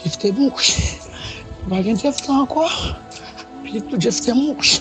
Jeff te mouri. Nou pa gen Jeff sa ankò. Pitit pou Jeff te mouri.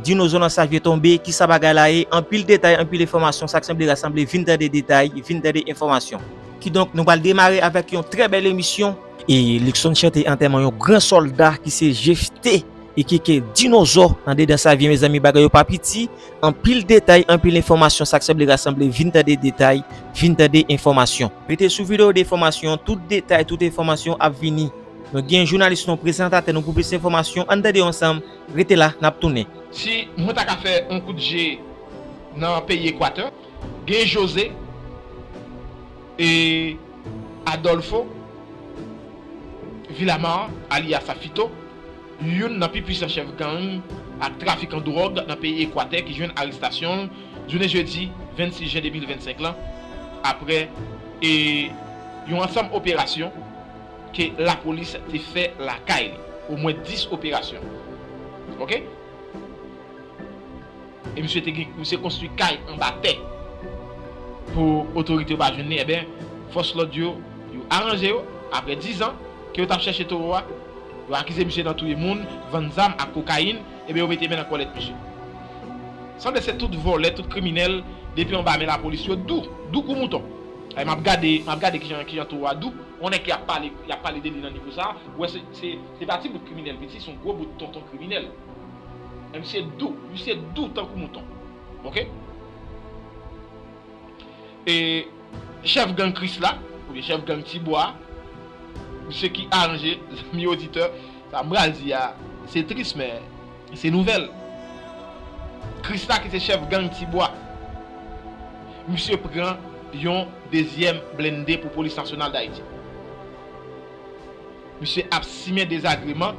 Dinozo nan sa vye tonbe, kisa bagay la ye, anpil detay, anpil enfòmasyon, sa k sanble rasanble, vin tande detay, vin tande enfòmasyon. Kidonk, nou pral demare avèk yon trè bèl emisyon. E Luckson chante antèman yon gran sòlda ki se Jeff T. Ikk dinozò tande dan savyen mezanmi bagay yo pa piti anpil detay anpil enfòmasyon sak sanble rasanble vin tande detay vin tande enfòmasyon. Rete sou video de enfòmasyon tout detay tout enfòmasyon ap vini nou gen jounalis nou prezantatè nou pou plis enfòmasyon ann tande ansanm rete la nap tounen. Si mwen ta ka fè yon kout je nan peyi Equateur, gen José. E Adolfo Villamar alyas Fito, youn nan pi pwisan chèf gang ak trafikan dwòg nan peyi Ekwatè ki jwenn arestasyon l jounen jedi 26 jen 2025 lan aprè yon ansanm operasyon ke lapolis te fè lakay li, omwen 10 operasyon. E misye te gen misye konstwi kay anba tè pou otorite yo pa jwenn li enben fòs lòd yo yo aranje yo aprè 10 zan ke yo tap chèche towo a yo akize misye nan touye moun vann zam ak kokayin enben yo mete men nan kòlèt misye sanble se tout vòlè tout kriminèl depi anba men lapolis yo dou dou kou mouton e map gade map gade kijan kijan towo a dou. On nèg ki ap pale yap pale de li nan nivo sa ou wè se se pa ti bout kriminèl piti son gwo bout tonton kriminèl. Em se dou ui se dou tankou mouton ok e chèf gang krisla oubyen chèf gang tibwa a misye ki aranje zanmi oditè sa mpral di a se tris men se nouvèl krisla ki se chèf gang tibwa misye pran yon dezyèm blende pou polis nasyonal dayiti misye ap simen dezagreman.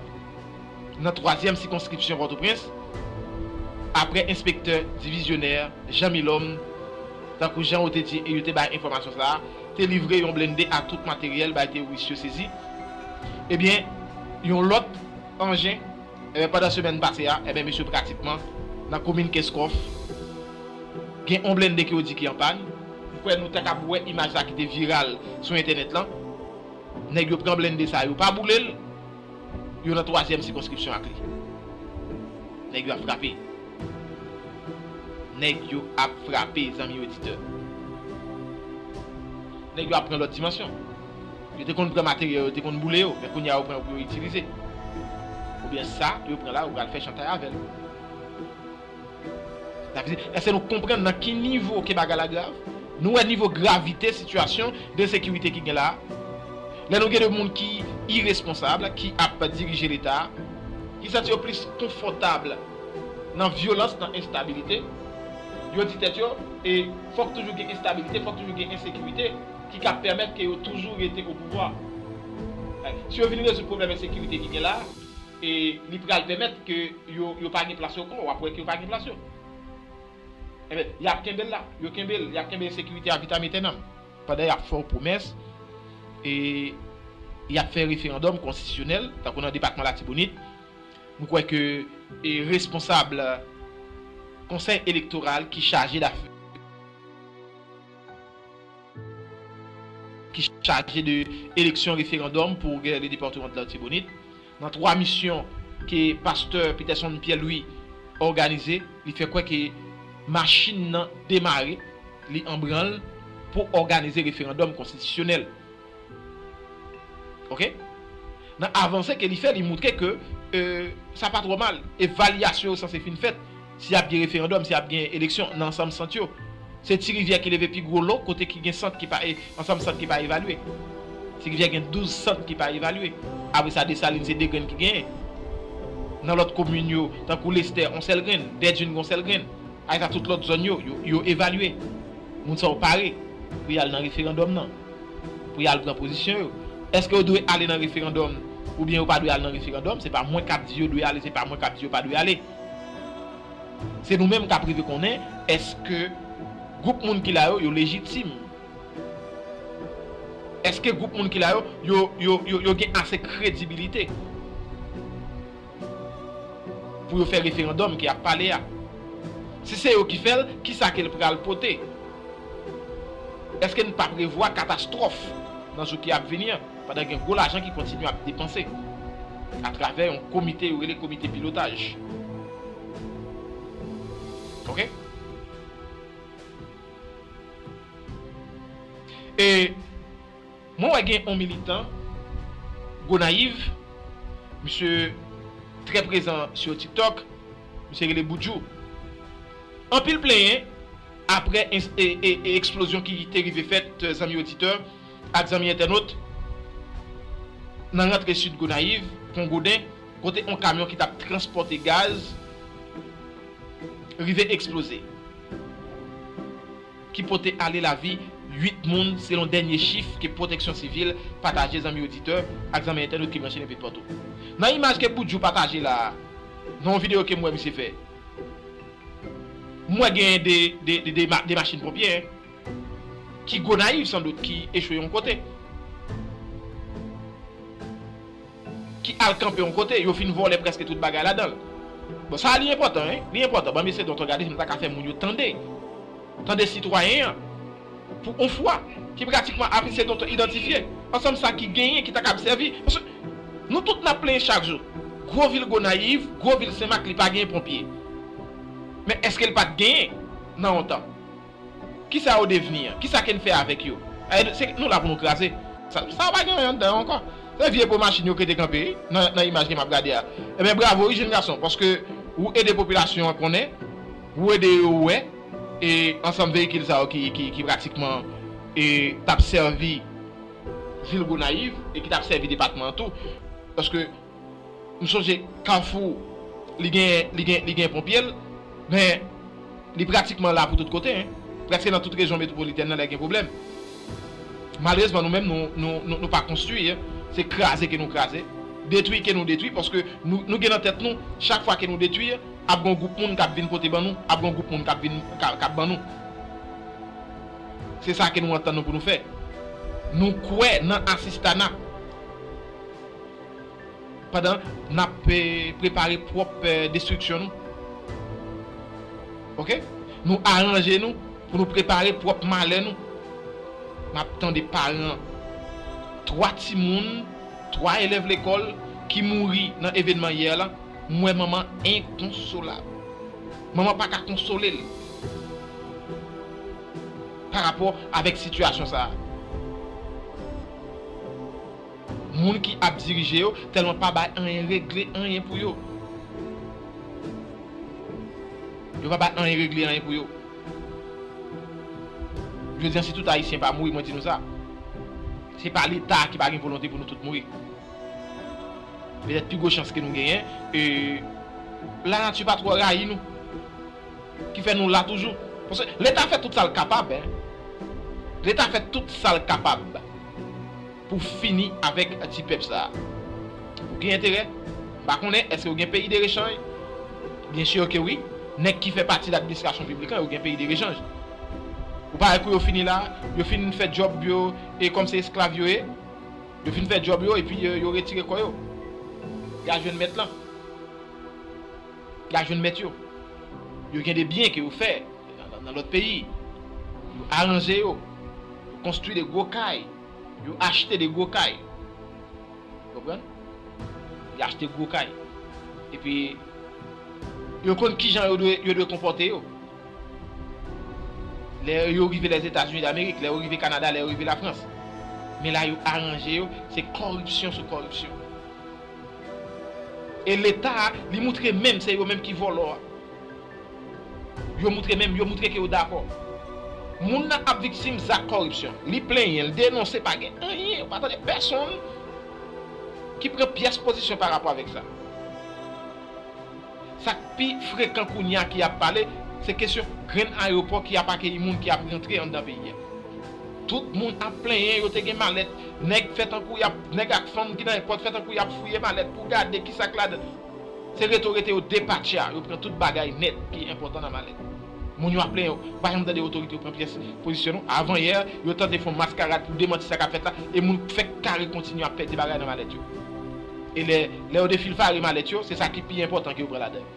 nan twazyèm sikonskripsyon Pòtoprens, aprè enspektè divizyonè Jean Milhomme, tankou jan ou te di e yo te bay enfòmasyon sa a, te livre yon blende ak tout materyèl bay teworis yo sezi, ebyen yon lòt anjen, ebyen pandan semèn pase a, ebyen mesye pratikman nan komin Kenskòf, gen yon blende ke yo di ki an pàn. M kwè nou te kab wè imaj sa ki te viral sou entènèt lan, nèg yo pran blende sa a yo pa boule l, Yo nan twazyèm sikonskripsyon ak li. Nèg yo ap frape. Nèg yo ap frape zanmi oditè. Nèg yo ap pran lòt dimansyon. Yo te konn pran materyè yo, yo te konn boule yo, men kounye a yo pran yo pou yo itilize. Oubyen sa yo pran la yo pral fè chantay avè l. Nap di, eske nou konprann nan ki nivo ke bagay la grav? Nou wè nivo gravite sitiyasyon d'ensekirite ki gen la a? Lè nou gen de moun ki iresponsab ki ap dirije leta a, ki santi yo plis konfòtab nan vyolans, nan enstabilite, yo di tèt yo, e fòk toujou gen enstabilite, fòk toujou gen ensekirite ki ka pèmèt ke yo toujou rete opouvwa. Si yo vin rezoud pwoblèm ensekirite ki gen la a, e li pral pèmèt ke yo yo pa gen plas yo ankò, wap wè ke yo pa gen plas yo. Enben, yap kenbel la, yo kenbel, yap kenbe ensekirite a vitam etènam, pandan yap fè w pwomès e yap fè referandòm konstitisyonèl, tankou nan depatman Latibonit, m kwè ke e responsab konsèy elektoral ki chaje dafè. ki chaje de eleksyon referandòm pou gè le depatman de l'Artibonite nan 3 misyon ke pastè Peterson Pierre Louis òganize li fè kwè ke machin nan demare li anbranl pou òganize referandòm konstitisyonèl. Ok Nan avanse ke li fè li moutre ke sa pa twò mal evalyasyon yo sanse fin fèt si ap gen referandòm si ap gen eleksyon nan ansanm sant yo se ti rivyè ki leve pi gwo lo kote ki gen sant ki pa ansanm sant ki pa evalye ti rivyè gen 12 sant ki pa evalye apre sa Desalin se 2 grenn ki genyen nan lòt komin yo tankou Lestè yon sèl grenn Dèdjin gen yon sèl grenn apre sa tout lòt zòn yo yo evalye moun sa yo pare pou yal nan referandòm nan. pou y al pran pozisyon yo. Eske yo dwe ale nan referandòm oubyen yo pa dwe ale nan referandòm, se pa mwen k ap di yo dwe ale, se pa mwen k ap di yo pa dwe ale. Se nou menm k ap rive konnen eske gwoup moun ki la yo, yo lejitim. Eske gwoup moun ki la yo, yo gen ase kredibilite. Pou yo fè referandòm ke ap pale a. Si se yo ki fè l, kisa ke l pral pote? Eske n pa prevwa katastwòf nan jou ki ap vini an, pandan gen gwo lajan ki kontinye ap depanse atravè yon komite yo rele komite pilotaj? Ok. E. Mwen wè gen on militan Gonayiv, misye trè prezan sur tiktok, misye rele Boudjou. Anpil plenyen aprè eksplozyon ki te rive fèt zanmi oditè ak zanmi entènot nan rantre sid Gonayiv, Pon Goden, kote on kamyon ki tap transpòte gaz rive eksploze. ki pote ale lavi 8 moun selon dènye chif ke Pwoteksyon Sivil pataje zanmi oditè ak zanmi entènot ki branche nenpetpòtou. Nan imaj ke Boudjou pataje la a, nan yon videyo ke m wè misye fè, m wè genyen 2 machin ponpye ki Gonayiv san dout ki echwe yon kote. ki al kanpe yon kote, yo fin vòlè prèske tout bagay ladan l. Bon, sa a li enpòtan wi, li enpòtan. Banm eseye donk regade si m ta ka fè moun yo tande. Tande sitwayen an, pou yon fwa, ki pratikman ap eseye donk idantifye ansanm sa ki genyen ki ta kab sèvi. Paske nou tout n ap plenyen chak jou, gwo vil Gonayiv, gwo vil Senmak li pa genyen ponpye. Men èske l pa t genyen nan yon tan? Kisa yo devni an? Kisa ke n fè avèk yo? Se nou la pou nou kraze? Sa yo pa gen anyen anndan yo ankò. Se vye po machin yo ke te kanpe wi nan imaj ke m ap gade a. Enben bravo wi jenn gason paske wou ede popilasyon an konnen, wou ede yo wè e ansanm veyikil sa yo ki pratikman t ap sèvi vil Gonayiv e ki t ap sèvi depatman an tou paske M sonje kafou li gen li gen li gen ponpye l men li pratikman la pou tout kote hein prèske nan tout rejyon metwopolitèn nan lè gen pwoblèm malerezman nou menm nou nou nou pa konstwi hein se kraze ke nou kraze detwi ke nou detwi paske nou nou gen nan tèt nou chak fwa ke nou detwi ap gon gwoup moun kap vin pote ban nou ap gon gwoup moun kap vin kap ban nou se sa ke nou antann nou pou nou fè nou kwè nan asistana. Pandan n ap prepare pwòp destriksyon nou. Ok. Nou aranje nou pou nou prepare pwòp malè nou. M ap tande paran 3 timoun, 3 elèv lekòl ki mouri nan evenman yè la, m wè manman enkonsolab. Manman pa ka konsole l parapò avèk sitiyasyon sa a. Moun ki ap dirije yo tèlman pa bay anyen regle anyen pou yo. Yo pa bay anyen regle anyen pou yo. Jodi an si tout ayisyen pa mouri mwen di nou sa. Se pa leta a ki pa gen volonte pou nou tout mouri. Petèt pi gwo chans ke nou genyen e la nati pa twò rayi nou. Ki fè nou la toujou. Paske leta fè tout sa l kapab. Leta fè tout sa l kapab. Pou fini avèk ti pèp sa. Ou gen enterè? M pa konnen, èske yo gen peyi derechanj? Byen sûr ke wi. Nèg ki fè pati ladministrasyon piblik lan, yo gen peyi derechanj. Ou pa wè kou yo fini la? Yo fin fè djòb yo, e kòm se esklav yo ye, yo fin fè djòb yo, epi yo retire kò yo. Y a jwenn mèt lan. Y a jwenn mèt yo. Yo gen de byen ke yo fè nan lòt peyi. Yo aranje yo. Yo konstwi de gwo kay. Yo achte de gwo kay. Ou konprann? Yo achte gwo kay. Epi, yo konn ki jan yo dwe konpòte yo. Lè yo rive Lèzetazini Damerik, lè yo rive Kanada, lè yo rive Lafrans. Men la yo aranje yo, se kòripsyon sou kòripsyon. E Leta a, li moutre menm se yo menm ki vòlò a. Yo moutre menm, yo moutre ke yo dakò. Moun nan ap viktim zak kòripsyon. Li plenyen, li denonse, pa gen anyen, ou pa tande pèsonn ki pran pyès pozisyon pa rapò avèk sa. Sa k pi frekan kounye a ki ap pale, se kesyon grenn ayewopò ki ap akeyi moun ki ap rantre anndan peyi a. Tout moun ap plenyen yo te gen malèt, nèg fè tankou y ap, nèg ak fanm ki nan èpòt fè tankou y ap fouye malèt pou gade ki sa k ladan. Se rete w rete yo depatcha, yo pran tout bagay nèt ki enpòtan nan malèt. Moun yo ap plenyen yo pa janm tande otorite yo pran pyès pozisyon non. Avanyè, yo tante fon maskarad pou demanti sa k ap fèt la e moun fèk kare kontinye ap pèdi bagay nan malèt yo. E lè lè yo defilfare malèt yo, se sa ki pi enpòtan ke yo pran ladan yo.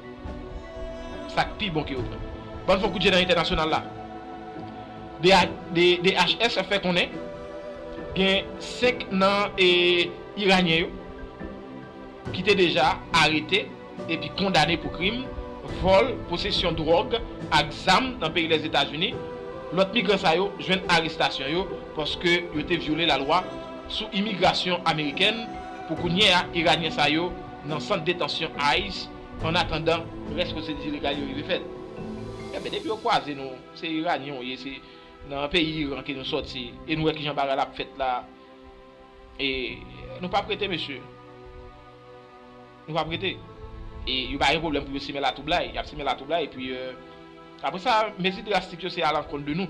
Sa k pi bon ke yo pran. Ban n fon kout je nan entènasyonal la. DHS fè konnen gen 5 nan Iranyen yo. ki te deja arete epi kondane pou krim vòl, posesyon dwòg ak zam nan peyi Lèzetazini, lòt migran sa yo jwenn arestasyon yo paske yo te vyole lalwa sou imigrasyon amerikèn. Pou kounye a, Iranyen sa yo nan sant detansyon ice an atandan. Rès pwosedi legal yo rive fèt. Enben, depi yo kwaze nou, se Iranyen ou ye, se nan peyi Iran ke nou sòti e nou wè kijan bagay la ap fèt la, E nou pap rete mesye. Nou pap rete. E yo pa gen pwoblèm pou yo simen latwoublay. Y ap simen latwoublay epi apre sa mezi drastik yo se alankont de nou.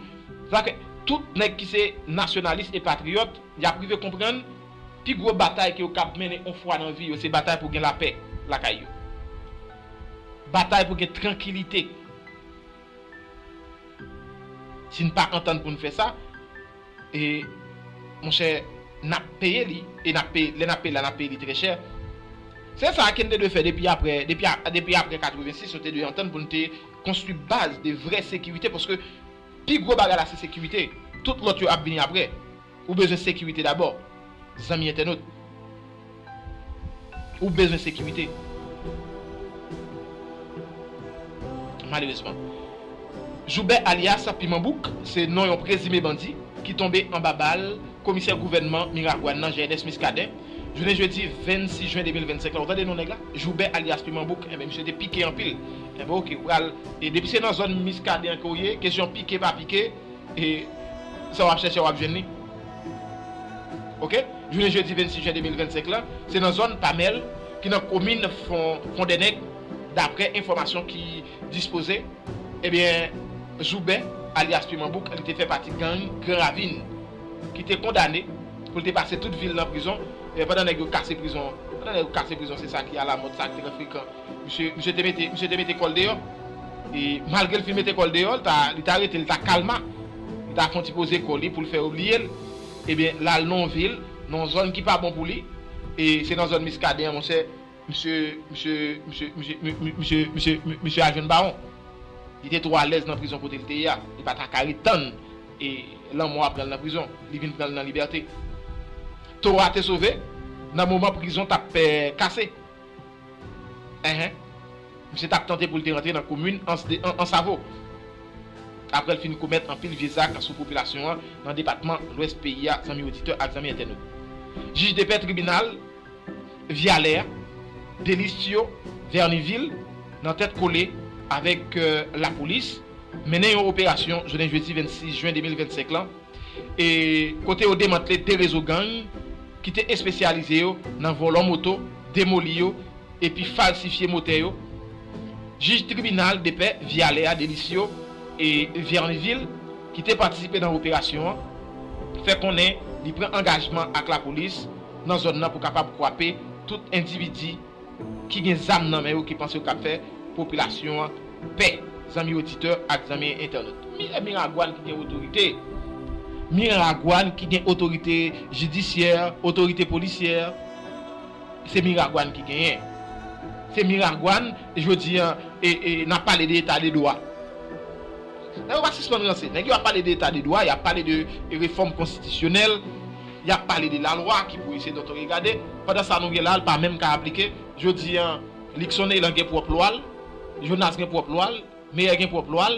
Sa fè tout nèg ki se nasyonalis e patriyòt y ap rive konprann pi gwo batay ke yo kab mennen yon fwa nan vi yo se batay pou gen lapè lakay yo. Batay pou gen trankilite. Si n pa antann pou n fè sa. E monchè nap peye li e nap peye lè nap peye la nap peye li trè chè. Se sa ken te dwe fè depi aprè depi depi aprè 86 yo te dwe antann pou nou te konstwi baz de vrè sekirite paske pi gwo bagay la se sekirite tout lòt yo ap vini aprè ou bezwen sekirite dabò zanmi entènot. Ou bezwen sekirite. Malerezman. Joubè alyas Piman Bouk se non yon prezime bandi ki tonbe anba bal komisè gouvènman Miragwàn nan Jeydes Muscadin jounen jedi 26 jen 2025 la ou tande non nèg la Joubè alyas Piman Bouk enben misye te pike anpil enben ok ou pral depi se nan zòn Muscadin an ke ou ye kesyon pike pa pike E sa w ap chèche w ap jwenn li. Ok, jounen jedi 26 jen 2025 la, se nan zòn Pamèl ki nan komin Fondènèg daprè enfòmasyon ki dispoze, ebyen Zoubè alyas Piman Bouk li te fè pati gang Gran Ravin ki te kondane pou l te pase tout vi l nan prizon pandan nèg yo kase prizon pandan nèg yo kase prizon se sa ki alamòd sa ki trè frekan. Misye te mete misye te mete kòl deyò e malgrel fin mete kòl deyò li ta rete li ta kalma li ta fon ti poze kò li poul fè yo bliyel ebyen lal non vil non zòn ki pa bon pou li e se nan zòn miskaden an monchè misye misye misye misye misye misye misye al jwenn bawon li te twò alèz nan prizon kotel te ye a li pa ta ka ret tann e lanmò a pranl nan prizon li vin pranl nan libète to a te sove nan moman prizon tap kase. Enhen. Misye tap tante pou l te rantre nan komin Ansavo aprè l fin komèt anpil vye zak sou popilasyon an nan depatman Lwès peyi a zanmi oditè ak zanmi entènot. Jij depè tribinal Vyalè a, Delistyo Vènivil nan tèt kole avèk lapolis mennen yon operasyon jounen jedi 26 jen 2025 lan, e kote yo demantle 2 rezo gang ki te espesyalize yo nan vòlò moto, demoli yo epi falsifye motè yo, jij tribinal depè Vyalè a Delisio e Vernivil ki te patisipe nan operasyon an fè konnen li pran angajman ak lapolis nan zòn nan pou kapab kwape tout endividi ki gen zam nan men yo ki panse yo kap fè popilasyon an pè zanmi oditè ak zanmi entènot mire miragwan ki gen otorite miragwan ki gen otorite jidisyè otorite polisyè se miragwan ki genyen se miragwan jodi an nap pale de eta de dwa nèg yo pa sispann ranse nèg yo ap pale de eta de dwa yap pale de refòm konstitisyonèl. Yap pale de la lwa ki pou ise doto regade pandan sa nou gen la pa menm ka aplike jodi an Luckson Elan gen pwòp lwa l Jonas gen pwòp lwa l Meyer gen pwòp lwa l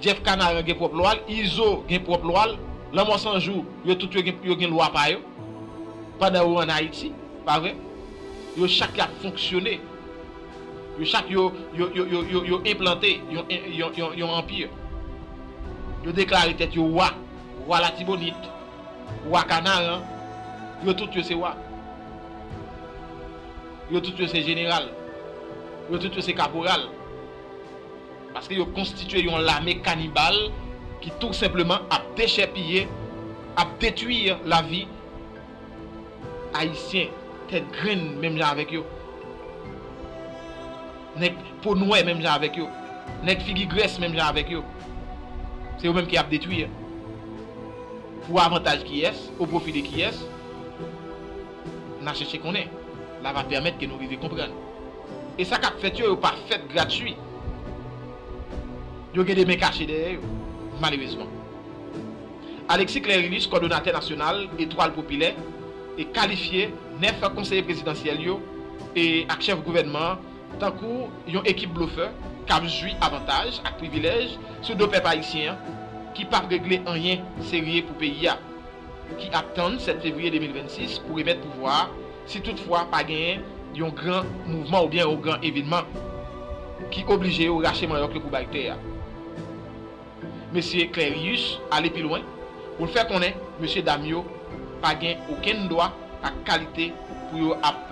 Jeff Canaran gen pwòp lwa l Izo gen pwòp lwa l Lanmò San Jou yo tout yo gen lwa pa yo pandan yo an Ayiti pa vre yo chak yap fonksyone yo chak yo yo enplante yon anpir yo deklare tèt yo wa wa Latibonit. Wa Kanaran, yo tout yo se wa. Yo tout yo se jeneral. Yo tout yo se kaporal. Paske yo konstitye yon lame kanibal ki tou senpleman ap dechèpiye, ap detwi lavi Ayisyen tèt grenn menm jan avèk yo. Nèg po nwè menm jan avèk yo. Nèg figi grès menm jan avèk yo. Se yo menm ki ap detwi a. Pou avantaj kiyès? O pwofi de kiyès? N a chèche konnen. La va pèmèt ke nou rive konprann. E sa k ap fèt yo, yo pa fèt gratui. Yo gen de men kache dèyè yo. Malerezman. Alexis Clerinus, kòdonatè nasyonal Etwal Popilè, kalifye 9 konseye prezidansyèl yo ak chèf gouvènman an tankou yon ekip blofè k ap jwi avantaj ak privilèj sou do pèp ayisyen an ki pap regle anyen serye pou peyi a ki ap tann 7 fevriye 2026 pou remèt pouvwa a si tout fwa pa genyen yon gran mouvman oubyen yon gran evenman ki oblije yo rache manyòk yo pou bay tè a. Mesye Clerius ale pi lwen pou l fè konnen mesye dam yo pa gen okenn dwa ak kalite pou yo ap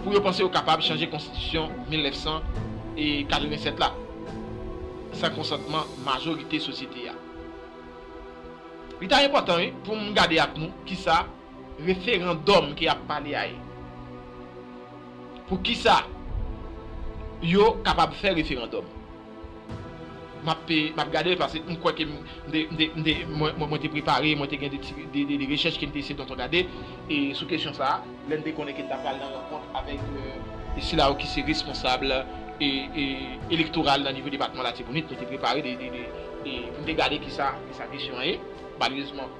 pou yo panse yo kapab chanje konstitisyon 1987 la san konsantman majorite sosyete a. Li ta enpòtan wi pou m gade ak nou kisa referandòm ke y ap pale a ye. Pou kisa yo kapab fè referandòm? M ap gade l paske m kwè ke mwen te prepare, mwen te gen de rechèch ke m te eseye donk gade sou kesyon sa a, lè m te konnen ke n ta pral nan rankont avèk sila yo ki se responsab elektoral nan nivo depatman Latibonit. Mwen te prepare pou m te gade kisa kesyon an ye. Malerezman.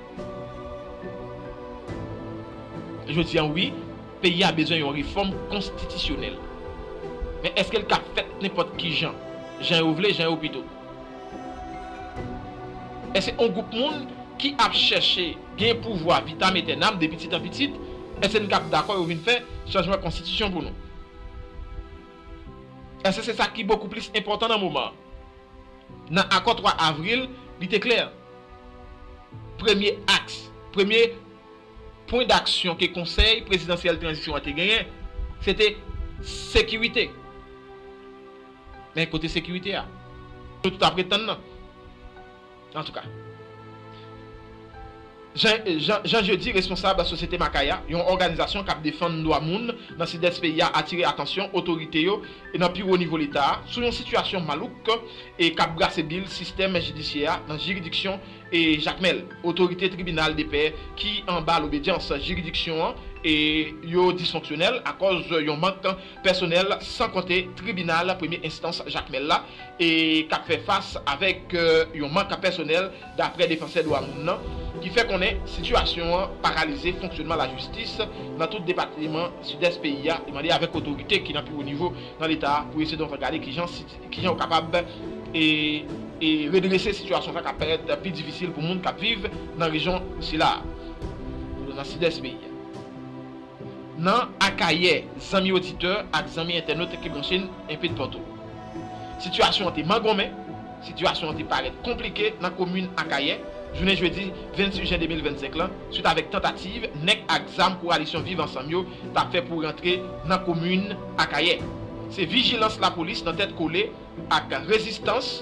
Jodi an wi, peyi a bezwen yon refòm konstitisyonèl. Men èske l ka fèt nenpòt ki jan? Jan yo vle, jan yo pito? Èske yon gwoup moun ki ap chèche gen pouvwa vitam etènam de pitit an pitit, èske n k ap dakò yo vin fè chanjman konstitisyon pou nou? Èske se sa ki bokou plis enpòtan nan moman an? Nan Akò 3 avril, li te klè, premye aks, premye pwen daksyon ke Konsèy Prezidansyèl Tranzisyon an te genyen, se te sekirite. Men kote sekirite a nou tout apretann nan? Antouka. Jean Jeudy, responsab Sosyete Makaya, yon òganizasyon k ap defann dwa moun nan Sidès peyi a atire atansyon otorite yo nan pi wo nivo Leta a sou yon sitiyasyon malouk k ap brase bil sistèm jidisyè a nan jiridiksyon Jakmèl. Otorite tribinal depè ki anba lobedyans jiridiksyon an yo disfonksyonèl akòz yon mank pèsonèl san konte tribinal premye enstans Jakmèl la k ap fè fas avèk yon mank pèsonèl daprè defansè dwa moun nan, ki fè konnen sitiyasyon an paralize fonksyonman lajistis nan tout depatman Sidès peyi a e mande avèk otorite ki nan pi wo nivo nan leta a pou yo se donk gade kijan yo kapab redrese sitiyasyon sa k ap parèt pi difisil pou moun k ap viv nan rejyon sila a nan Sidès peyi a. Nan Akayè, zanmi oditè ak zanmi entènot ki branche n enpe dpatou. Sitiyasyon an te mangonmen, sitiyasyon an te parèt konplike nan komin Akayè jounen jedi 26 jen 2025 lan swit avèk tantativ nèg ak zam kowalisyon Viv Ansanm yo ta fè pou rantre nan komin Akayè. Se vijilans lapolis nan tèt kole ak rezistans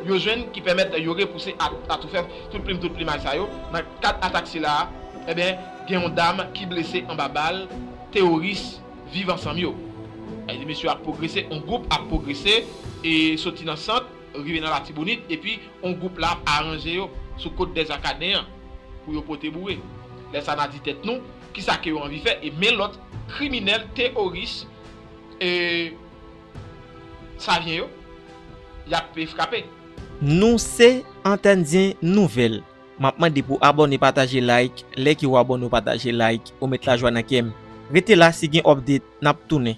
yo jwenn ki pèmèt yo repouse ak atoufè tout plim tout plimay sa yo. Nan kad atak sila a, enben, gen yon dam ki blese anba bal teworis Viv Ansanm yo. Mesye yo ap pwogrese, yon gwoup ap pwogrese e soti nan sant rive nan Latibonit epi yon gwoup la ap aranje yo sou kot Dèzakaden an pou yo pote boure. Lè sa n a di tèt nou, kisa ke yo anvi fè e men lòt kriminèl teworis e. Savyen yo, y ap frape. Nou se Antèndyen Nouvèl. M ap mande pou abòne pataje like lè ke w abòne w pataje like ou met lajwa nan kè m. Rete la si gen update n ap tounen.